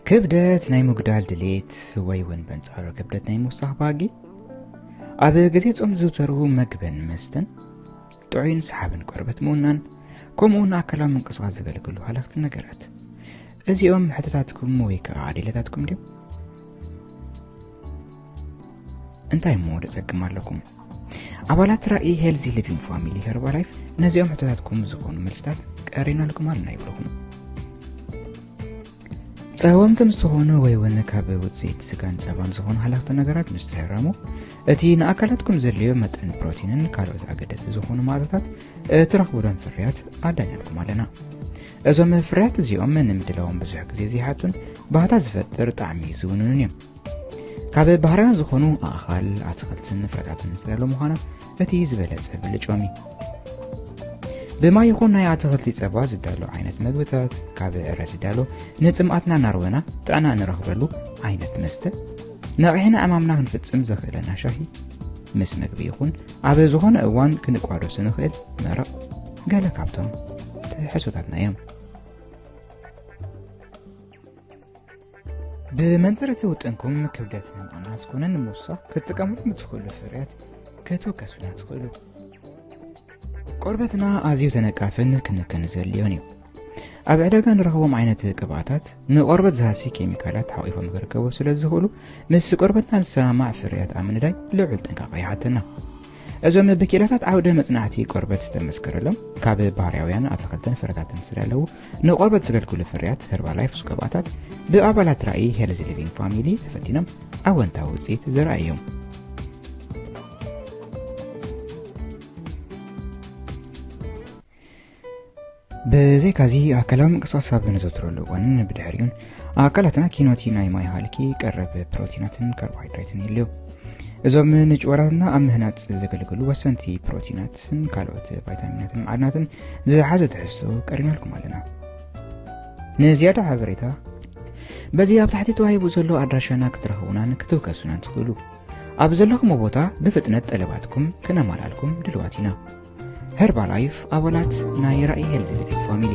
ክብደት ናይ ምጉዳል ድሌት ወይ እውን በንጻሩ ክብደት ናይ ምውሳኽ ባህጊ ኣብ ግዜ ጾም ዝዝውተሩ መግብን መስተን ጥዑይን ሰሓብን ቆርበት ምውናን ከምኡውን ኣካላዊ ምንቅስቓስ ዘገልግሉ ሃለኽቲ ነገራት እዚኦም ሕቶታትኩም ወይ ከዓ ኣዴለታትኩም ድዮም እንታይ እሞ ደጸግም ኣለኩም ኣባላት ራእይ ሄልዚ ሊቪንግ ፋሚሊ ሄርባላይፍ ነዚኦም ሕቶታትኩም ዝኾኑ መልስታት ቀሪናልኩም ኣለና ይብለኹም ጸወምቲ ምስ ዝኾኑ ወይ እውን ካብ ውፅኢት ስጋን ፀባን ዝኾኑ ሃለኽቲ ነገራት ምስ ትሕረሙ እቲ ንኣካላትኩም ዘድልዮ መጠን ፕሮቲንን ካልኦት ኣገደሲ ዝኾኑ ማእቶታት እትረኽቡለን ፍርያት ኣዳልናልኩም ኣለና እዞም ፍርያት እዚኦም ንምድላዎም ብዙሕ ግዜ ዘይሓቱን ባህታ ዝፈጥር ጣዕሚ ዝውንኑን እዮም ካብ ባህርያውያን ዝኾኑ ኣእኻል ኣትክልትን ፍረታትን ዝተዳሎ ምዃና እቲ ዝበለፀ ብልጮም እዩ ብማይ ይኹን ናይ ኣትክልቲ ፀባ ዝዳሎ ዓይነት መግብታት ካብ ዕረ ዝዳሎ ንፅምኣትና እናርወና ጥዕና እንረኽበሉ ዓይነት መስተ ነቒሕና ዕማምና ክንፍፅም ዘኽእለና ሻሂ ምስ መግቢ ይኹን ኣብ ዝኾነ እዋን ክንቋደሱ ንኽእል መረቕ ገለ ካብቶም ትሕሶታትና እዮም ብመንፅር እቲ ውጥንኩም ክብደት ንምቕናስ ኮነ ንምውሳኽ ክትጥቀምሉ ንትኽእሉ ፍርያት ክትውከሱና ትኽእሉ ቆርበትና ኣዝዩ ተነቃፍን ክንክን ዘድልዮን እዩ ኣብ ዕዳጋ ንረኽቦም ዓይነት ቅብኣታት ንቆርበት ዝሃሲ ኬሚካላት ሓቂፎም ክርከቡ ስለ ዝኽእሉ ምስ ቆርበትና ዝሰማማዕ ፍርያት ኣብ ምንዳይ ልዑል ጥንቃቐ ይሓተና እዞም ብኪኢላታት ዓውደ መፅናዕቲ ቆርበት ዝተመስከረሎም ካብ ባህርያውያን ኣትክልትን ፍረታትን ስለለዉ ንቆርበት ዘገልግሉ ፍርያት ህርባላይፍስ ቅብኣታት ብኣባላት ራእይ ሄልዚ ሊቪንግ ፋሚሊ ተፈቲኖም ኣወንታዊ ውፅኢት ዘረኣዮም ብዘይካዚ ኣካላዊ ምንቅስቓስ ኣብ ነዘውትረሉ እዋንን ብድሕሪኡን ኣካላትና ኪኖቲ ናይ ማይ ሃልኪ ቀረብ ፕሮቲናትን ካርቦሃይድሬትን ይልዮ እዞም ንጭወራትና ኣብ ምህናፅ ዘገልግሉ ወሰንቲ ፕሮቲናትን ካልኦት ቫይታሚናትን መዓድናትን ዝሓዘ ትሕዝቶ ቀሪናልኩም ኣለና ንዝያዳ ሓበሬታ በዚ ኣብ ታሕቲ ተዋሂቡ ዘሎ ኣድራሻና ክትረኽቡናን ክትውከሱናን ትኽእሉ ኣብ ዘለኹሞ ቦታ ብፍጥነት ጠለባትኩም ክነማላልኩም ድልዋት ኢና ሄርባላይፍ ኣባላት ናይ ራእይ ሄልዝ ክሊኒክ ፋሚሊ